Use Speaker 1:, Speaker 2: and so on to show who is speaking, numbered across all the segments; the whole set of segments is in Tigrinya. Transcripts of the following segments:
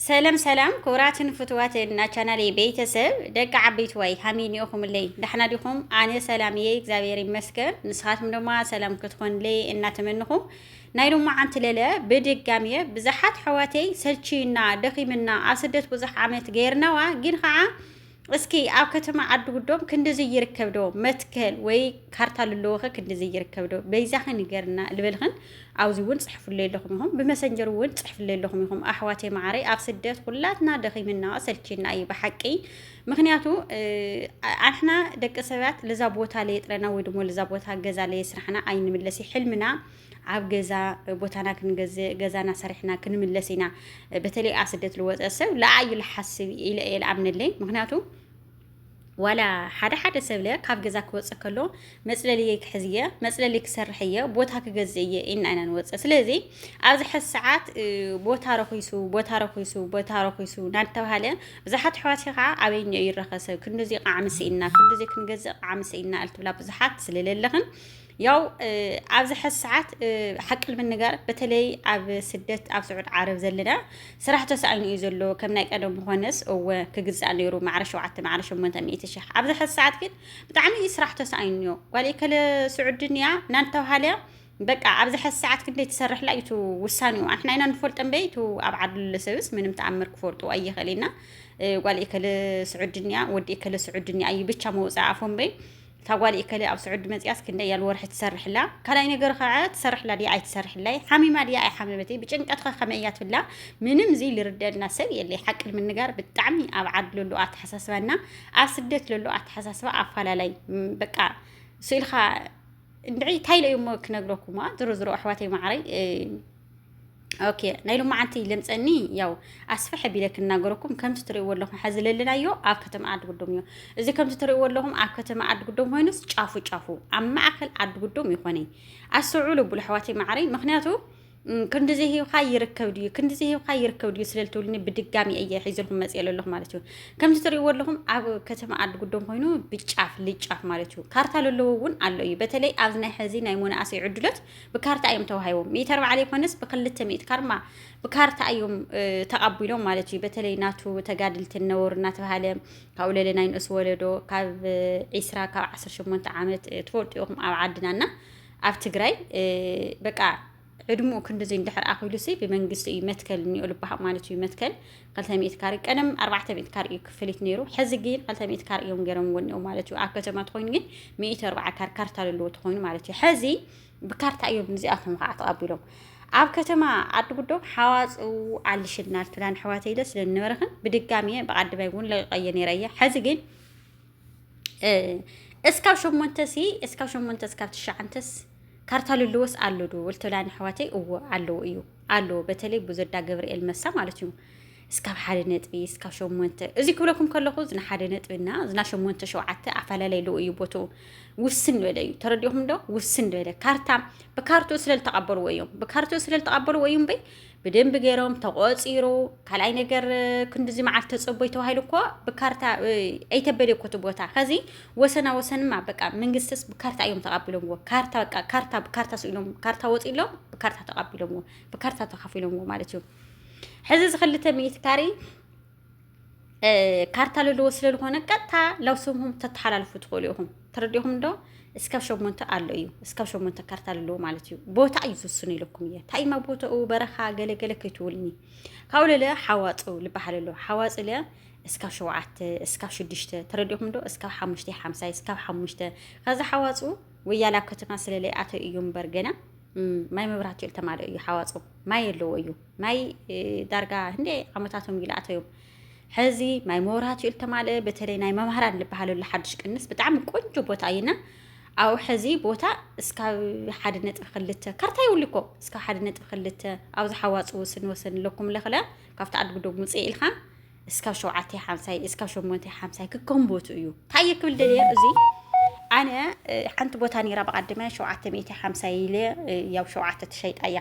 Speaker 1: ሰለም ሰላም ክቡራትን ፍትዋትን ናቻናለይ ቤተሰብ ደቂ ዓበይትዋይ ሃመይ ኒኦኹምለይ ዳሕና ዲኹም ኣነ ሰላም እየ እግዚኣብሔር ይመስገን ንስኻትኩም ድማ ሰላም ክትኾንለይ እናተመንኹ ናይ ሎማዓንቲ ለለ ብድጋሚ እየ ብዙሓት ሕዋተይ ሰልችዩና ደኺምና ኣብ ስደት ብዙሕ ዓመት ገይርናዋ ግን ከዓ እስኪ ኣብ ከተማ ዓዲ ጉዶም ክንድዚ ይርከብ ዶ መትከል ወይ ካርታ ልለወኸ ክንድዚ ይርከብ ዶ በይዛኸ ንገርና ልበልኽን ኣብዚ እውን ፅሕፍለይ ኣለኹም ኢኹም ብመሰንጀር እውን ፅሕፍለይ ኣለኹም ኢኹም ኣሕዋተይ መዓረይ ኣብ ስደት ኩላትና ደኺምና ሰልችና እዩ ብሓቂ ምክንያቱ ኣንሕና ደቂ ሰባት ልዛ ቦታ ለየጥረና ወይ ድሞ ልዛ ቦታ ገዛ ለየስራሕና ኣይንምለስ ሕልምና ኣብ ገዛ ቦታና ክንገዝእ ገዛና ሰሪሕና ክንምለስ ኢና በተለይ ኣብ ስደት ዝወፀ ሰብ ለኣዩ ልሓስብ ኢለ እየ ልኣምነለይ ምክንያቱ ዋላ ሓደ ሓደ ሰብለ ካብ ገዛ ክወፅእ ከሎ መፅለሊ ክሕዝ እየ መፅለሊ ክሰርሕ እየ ቦታ ክገዝእ እየ ኢና ኢና ንወፅእ ስለዚ ኣብዚ ሕዚ ሰዓት ቦታ ረኪሱ ቦታ ረኪሱ ቦታ ረኪሱ እናተባሃለ ብዙሓት ኣሕዋት ከዓ ኣበይኛ እዩ ይረኸሰ ክንዲዚ ቃዕሚ ስኢና ክንዲዚ ክንገዝእ ቃዕሚ ስኢና እልትብላ ብዙሓት ስለለለኽን ያው ኣብዚ ሕዚ ሰዓት ሓቂ ንምንጋር በተለይ ኣብ ስደት ኣብ ስዑድ ዓረብ ዘለና ስራሕ ተሳኢኑ እዩ ዘሎ ከም ናይ ቀደም ምኾነስ እወ ክግዛእ ነይሩ ማዕረ ሸውዓተ ማዕረ ሸሞንተ ሚእቲ ሽሕ ኣብዚ ሕዚ ሰዓት ግን ብጣዕሚ እዩ ስራሕ ተሳኢኑ እዮ ጓል ከለ ስዑድን እያ እናተባሃለ በቃ ኣብዚ ሕዚ ሰዓት ክንደይ ትሰርሕ ላ እዩ ውሳኔኡ ኣንሕና ኢና ንፈልጦ እምበይ እቲ ኣብ ዓዱ ሰብስ ምንም ተኣምር ክፈልጡ ኣይኽእልና ጓል ከለ ስዑድን እያ ወዲ ከለ ስዑድን እያ እዩ ብቻ መውፃእ ኣፎ እምበይ እታ ጓል ኤከለ ኣብ ስዑዲ መጺኣስ ክንደይ ያል ወርሒ ትሰርሕ ኣላ? ካልኣይ ነገር ከኣ ትሰርሕላ ድያ ኣይትሰርሕላይ? ሓሚማ ድያ ኣይሓመመትን? ብጭንቀት ከ ከመይ እያ ትብላ? ምንም ዝይ ልርደልና ሰብ የለይ። ሓቂ ንምንጋር ብጣዕሚ ኣብ ዓድ ለሎ ኣተሓሳስባና ኣብ ስደት ለሎ ኣተሓሳስባ ኣፋላላይ በቃ ስእልካ እንድዒ ታይ ኢለ እሞ ክነግረኩማ ዝሮ ዝሮ ኣሕዋተይ ማዓረይ ኦኬ ናይ ሎማዓንቲ ልምፀኒ ያው ኣስፍሕ ቢለ ክናገረኩም ከምዚ ትሪእዎ ኣለኹም ሐዚ ለለናዮ ኣብ ከተማ ዓዲ ጉዶም እዩ እዚ ከምዚ ትሪእዎ ኣለኹም ኣብ ከተማ ዓዲ ጉዶም ኮይኑስ ጫፉ ጫፉ ኣብ ማእኸል ዓዲ ጉዶም ይኾነ ኣስተውዕሉ ብሉ ኣሕዋተይ ማዕረይ ምክንያቱ ክንዲ ዘይሂብካ ይርከብ ድዩ ክንዲ ዘይሂብካ ይርከብ ድዩ ስለ ልትብልኒ ብድጋሚ እየ ሒዝልኩም መፅእ ኣለኹ ማለት እዩ ከምዚ ትሪእዎ ኣለኹም ኣብ ከተማ ዓዲ ጉዶም ኮይኑ ብጫፍ ልጫፍ ማለት እዩ ካርታ ለለዎ እውን ኣሎ እዩ በተለይ ኣብዚ ናይ ሕዚ ናይ መናእሰይ ዕድሎት ብካርታ እዮም ተዋሂቦም ሚእቲ ኣርባዕተ ዘይኮነስ ብክልተ ሚእቲ ካርማ ብካርታ እዮም ተቐቢሎም ማለት እዩ በተለይ ናቱ ተጋድልቲ ነወሩ እናተባሃለ ካብኡ ለለ ናይ ንእስ ወለዶ ካብ ዒስራ ካብ ዓስር ሸሞንተ ዓመት ትፈልጡ ኢኹም ኣብ ዓድና እና ኣብ ትግራይ በቃ ዕድምኡ ክንዲዚ እንድሕር ኣኺሉሲ ብመንግስቲ እዩ መትከል እኒኦ ልባሃቅ ማለት እዩ መትከል ክልተ ሚእቲ ካሬ ቀደም ኣርባዕተ ሚእቲ ካሬ እዩ ክፍሊት ነይሩ ሕዚ ግን ክልተ ሚእቲ ካሬ እዮም ገይሮም ወኒኦም ማለት እዩ ኣብ ከተማ ትኮይኑ ግን ሚእቲ ኣርባዓ ካሬ ካርታ ዘለዎ ትኮይኑ ማለት እዩ ሕዚ ብካርታ እዮም ንዚኣቶም ከዓ ተቐቢሎም ኣብ ከተማ ዓዲ ጉዶም ሓዋፅኡ ኣልሽናል ትብላን ኣሕዋተይ ኢለ ስለ ዝነበረኽን ብድጋሚ እየ ብዓዲ ባይ እውን ለቂቐየ ነይረ እየ ሕዚ ግን እስካብ ሸሞንተ ሲ እስካብ ሸሞንተ እስካብ ትሽዓንተስ ካርታ ልልዎስ ኣሎ ዶ ልትብላኒ ኣሕዋተይ እዎ ኣለዎ እዩ ኣለዎ በተለይ ብዙዳ ገብርኤል መሳ ማለት እዩ እስካብ ሓደ ነጥቢ እስካብ ሸሞንተ እዚ ክብለኩም ከለኹ ዝና ሓደ ነጥቢና ዝና ሸሞንተ ሸውዓተ ኣፈላለይ ኣለዎ እዩ ቦትኡ ውስን ዝበለ እዩ ተረዲኹም ዶ ውስን ዝበለ ካርታ ብካርትኡ ስለ ዝተቐበልዎ እዮም ብካርትኡ ስለ ዝተቐበልዎ እዩ እምበይ ብደንቢ ገይሮም ተቆፂሩ ካልኣይ ነገር ክንድዚ መዓልቲ ተፀቦይ ተባሂሉ እኮ ብካርታ ኣይተበል እኮ እቲ ቦታ ከዚ ወሰና ወሰንማ በቃ መንግስትስ ብካርታ እዮም ተቃቢሎምዎ ካርታ በቃ ካርታ ብካርታ ስኢሎም ካርታ ወፂሎም ብካርታ ተቃቢሎምዎ ብካርታ ተካፊሎምዎ ማለት እዩ ሕዚ እዚ ክልተ ሚእቲ ካሬ ካርታ ለለዎ ስለዝኾነ ቀጥታ ላብ ስምኹም ተተሓላልፉ ትኽእሉ ኢኹም ተረዲኹም ዶ እስካብ ሸሞንተ ኣሎ እዩ እስካብ ሸሞንተ ካርታ ኣለዎ ማለት እዩ ቦታ እዩ ዝውስኑ ኢለኩም እየ ታይማ ቦታኡ በረኻ ገለገለ ከይትውልኒ ካብኡ ለለ ሓዋፁ ዝበሃል ኣሎ ሓዋፁ ለ እስካብ ሸውዓተ እስካብ ሽዱሽተ ተረዲኹም ዶ እስካብ ሓሙሽተ ሓምሳይ እስካብ ሓሙሽተ ከዚ ሓዋፁ ወያላ ከተማ ስለለይኣተው እዩ እምበር ገና ማይ መብራህቲ ተማልኦ እዩ ሓዋፁ ማይ ኣለዎ እዩ ማይ ዳርጋ ህንደይ ዓመታቶም እዩ ልኣተዮም ሕዚ ማይ መብራህቲ እዩ ልተማልአ በተለይ ናይ መምህራን ልበሃለሉ ሓድሽ ቅንስ ብጣዕሚ ቆንጆ ቦታ እዩና ኣብኡ ሕዚ ቦታ እስካብ ሓደ ነጥቢ ክልተ ካርታ ይብሉ እኮ እስካብ ሓደ ነጥቢ ክልተ ኣብ ዝሓዋፅ ወስን ወሰን ኣለኩም ለኽለ ካብቲ ኣድጉዶብ ውፅእ ኢልካ እስካብ ሸውዓተ ሓምሳይ እስካብ ሸሞንተ ሓምሳይ ክከምቦቱ እዩ ታየ ክብል ደልየ እዚ ኣነ ሓንቲ ቦታ ነራ ብቀድመ ሸውዓተ ሚእቲ ሓምሳይ ኢለ ያው ሸውዓተ ትሸይጣ እያ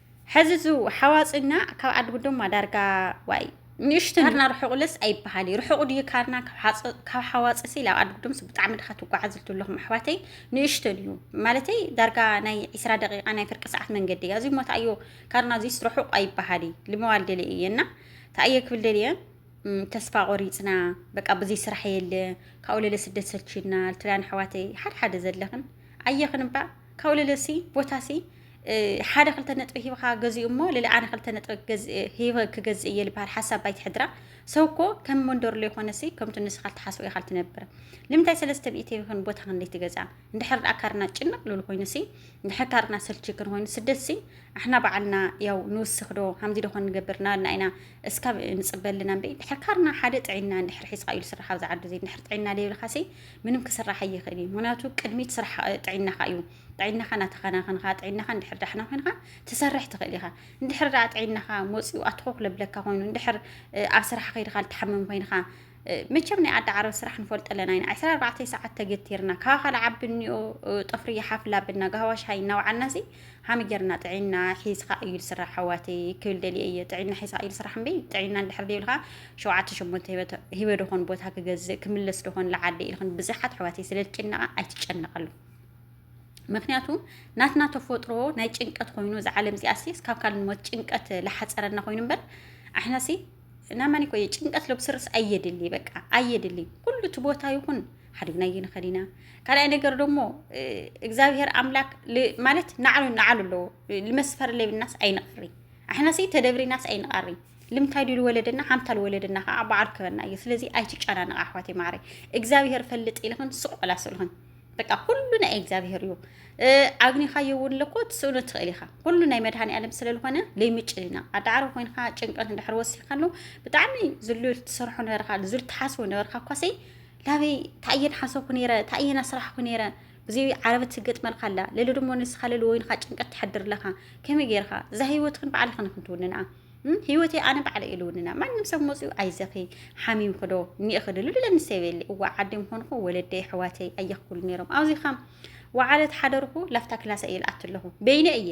Speaker 1: ሐዚ እዚ ሓዋፅና ካብ ዓዲ ጉዶማ ዳርጋ ዋይ ንእሽተን ካርና ርሑቕለስ ኣይበሃል እዩ ርሑቕ ድዩ ካርና ካብ ሓዋፅሲ ናብ ዓዲ ጉዶምስ ብጣዕሚ ድኻ ትጓዓዙ ዘለኹም ኣሕዋተይ ንእሽተን እዩ ማለተይ ዳርጋ ናይ ዒስራ ደቂቃ ናይ ፍርቂ ሰዓት መንገዲ እያ እዙይ እሞ ተኣዮ ካርና እዙይስ ርሑቕ ኣይበሃል እዩ ልመዋል ደለ እየ እና ተኣየ ክብል ደልየ ተስፋ ቆሪፅና በቃ ብዙይ ስራሕ የለ ካብኡ ለለ ስደት ሰልችና ልትሪያን ኣሕዋተይ ሓደ ሓደ ዘለኽን ኣየኽን እባ ካብኡ ለለሲ ቦታሲ ሓደ ክልተ ነጥቢ ሂብካ ገዚኡ እሞ ልዕሊ ኣነ ክልተ ነጥቢ ሂበ ክገዝእ እየ ዝበሃል ሓሳብ ባይቲ ሕድራ ሰው እኮ ከም መንደርሎ ይኾነሲ ከምቲ ንስኻ ትሓስቦ ኢኻ ትነብር ንምንታይ ሰለስተ ሚእቲ ይኹን ቦታ ክንደይ ትገዛ እንድሕር ደኣ ካርና ጭንቅ ልብል ኮይኑሲ እንድሕር ካርና ሰልቺ ክን ኮይኑ ስደትሲ ኣሕና በዓልና ያው ንውስኽ ዶ ሃምዚ ዶኾን ንገብር ናበልና ኢና እስካብ ንፅበ ኣለና እምበይ እንድሕር ካርና ሓደ ጥዒና እንድሕር ሒዝካ እዩ ዝስራሕ ኣብዚ ዓዲ እዚ እንድሕር ጥዒና ዘይብልካሲ ምንም ክስራሕ ኣይኽእል እዩ ምክንያቱ ቅድሚት ስራሕ ጥዒናኻ እዩ ጥዒናኻ እናተኸናኸንኻ ጥዒናኻ እንድሕር ዳሕና ኮይንካ ትሰርሕ ትኽእል ኢኻ እንድሕር ዳኣ ጥዒናኻ መፂኡ ኣትኾኽ ለብለካ ኮይኑ እንድሕር ኣብ ስራሕ ከይድካ ልትሓምም ኮይንካ መቸም ናይ ኣዳ ዓረብ ስራሕ ንፈልጦ ኣለና ኢና ዕስራ ኣርባዕተ ሰዓት ተገቲርና ካብ ካል ዓቢ እኒኦ ጠፍሪ ይሓፍላ ብና ጋህዋ ሻሂ እናውዓልና ሲ ሃሚ ጌርና ጥዒና ሒዝካ እዩ ዝስራሕ ኣሕዋተይ ክብል ደልየ እየ ጥዒና ሒዝካ እዩ ዝስራሕ እምበይ ጥዒና እንድሕር ዘይብልካ ሸውዓተ ሸሞንተ ሂበ ዶኾን ቦታ ክገዝእ ክምለስ ዶኾን ልዓዲ ኢልክን ብዙሓት ኣሕዋተይ ስለ ዝጭነቃ ኣይትጨነቃሉ ምክንያቱ ናትና ተፈጥሮ ናይ ጭንቀት ኮይኑ እዛ ዓለም እዚኣሲ እስካብ ካል ንሞት ጭንቀት ላሓፀረና ኮይኑ እምበር ኣሕናሲ ናማኒ ኮ ጭንቀት ለብስርስ ኣየድሊ በቃ ኣየድሊ ኩሉ እቲ ቦታ ይኹን ሓዲግና ይንኸድ ኢና ካልኣይ ነገር ደግሞ እግዚኣብሄር ኣምላክ ማለት ናዕሉ ናዕሉ ኣለዎ ልመስፈር ለብናስ ኣይንቐሪ ኣሕናሲ ተደብሪናስ ኣይንቐሪ ልምታይ ድሉ ወለደና ሓምታ ልወለደና ከዓ በዓል ክበና እዩ ስለዚ ኣይትጨናነቕ ኣሕዋት ማዕረ እግዚኣብሄር ፈልጥ ኢልኽን ስቆላ ስልኽን በቃ ኩሉ ናይ እግዚኣብሔር እዩ ኣግኒኻዮ እውን ለኮ ትስእኑ ትኽእል ኢኻ ኩሉ ናይ መድሃኒ ኣለም ስለዝኾነ ለይምጭልና ኣዳዕሮ ኮይንካ ጭንቀት እንድሕር ወሲድካ ኣሎ ብጣዕሚ ዝሉ ትሰርሖ ነበርካ ዝሉ ትሓስቦ ነበርካ እኳሰይ ላበይ ታእየን ሓሰብኩ ነይረ ታእየን ኣስራሕኩ ነይረ እዚ ዓረበት ትገጥመልካ ኣላ ለሎ ድሞ ንስኻ ለሎ ወይንካ ጭንቀት ትሕድር ኣለኻ ከመይ ጌርካ እዛ ህይወትክን ባዕልኽን ክንትውንንኣ ህይወተይ ኣነ ባዕለ ኢሉውንና ማንም ሰብ መፅኡ ኣይዘኺ ሓሚምክዶ ኒእኽዲ ልብለኒ ሰበየለ እዋ ዓዲ ምኾንኹ ወለደይ ኣሕዋተይ ኣየኽኩሉ ነይሮም ኣብዚ ከም ወዓለት ሓደርኹ ላፍታ ክላሰ እየ ልኣት ኣለኹ በይነ እየ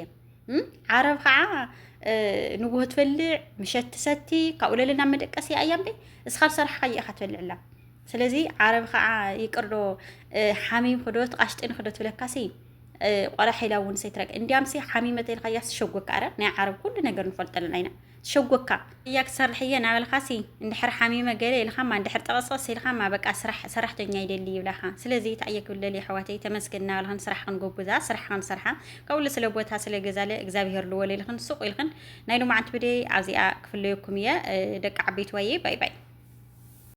Speaker 1: ዓረብ ከዓ ንጉሆ ትበልዕ ምሸት ትሰቲ ካብኡ ለለ ናብ መደቀሲ እያ እምበ እስኻ ዝሰራሕካ እየኻ ትበልዕ ኣላ ስለዚ ዓረብ ከዓ ይቅርዶ ሓሚም ክዶ ትቃሽጥን ክዶ ትብለካሲ ቆላ ሓይላ እውን ሰይትረቅ እንዲያም ሲ ሓሚመ ተይልካያ ስሸጎካ ኣረ ናይ ዓረብ ኩሉ ነገር ንፈልጦ ኣለና ኢና ሸጎካ እያ ክሰርሕ እየ ናበልካሲ እንድሕር ሓሚመ ገለ ኢልካማ እንድሕር ጠቐስቐስ ኢልካማ በቃ ስራሕ ሰራሕተኛ ይደሊ ይብላኻ ስለዚ እንታይ እየ ክብለል የሕዋተይ ተመስገን እናበልክን ስራሕክን ጎብዛ ስራሕክን ሰርሓ ካብኡ ስለ ቦታ ስለ ገዛለ እግዚኣብሄር ልወል ኢልክን ሱቕ ኢልክን ናይ ሎማዓንቲ ብደይ ኣብዚኣ ክፍለየኩም እየ ደቂ ዓበይቲ ዋየ ባይ ባይ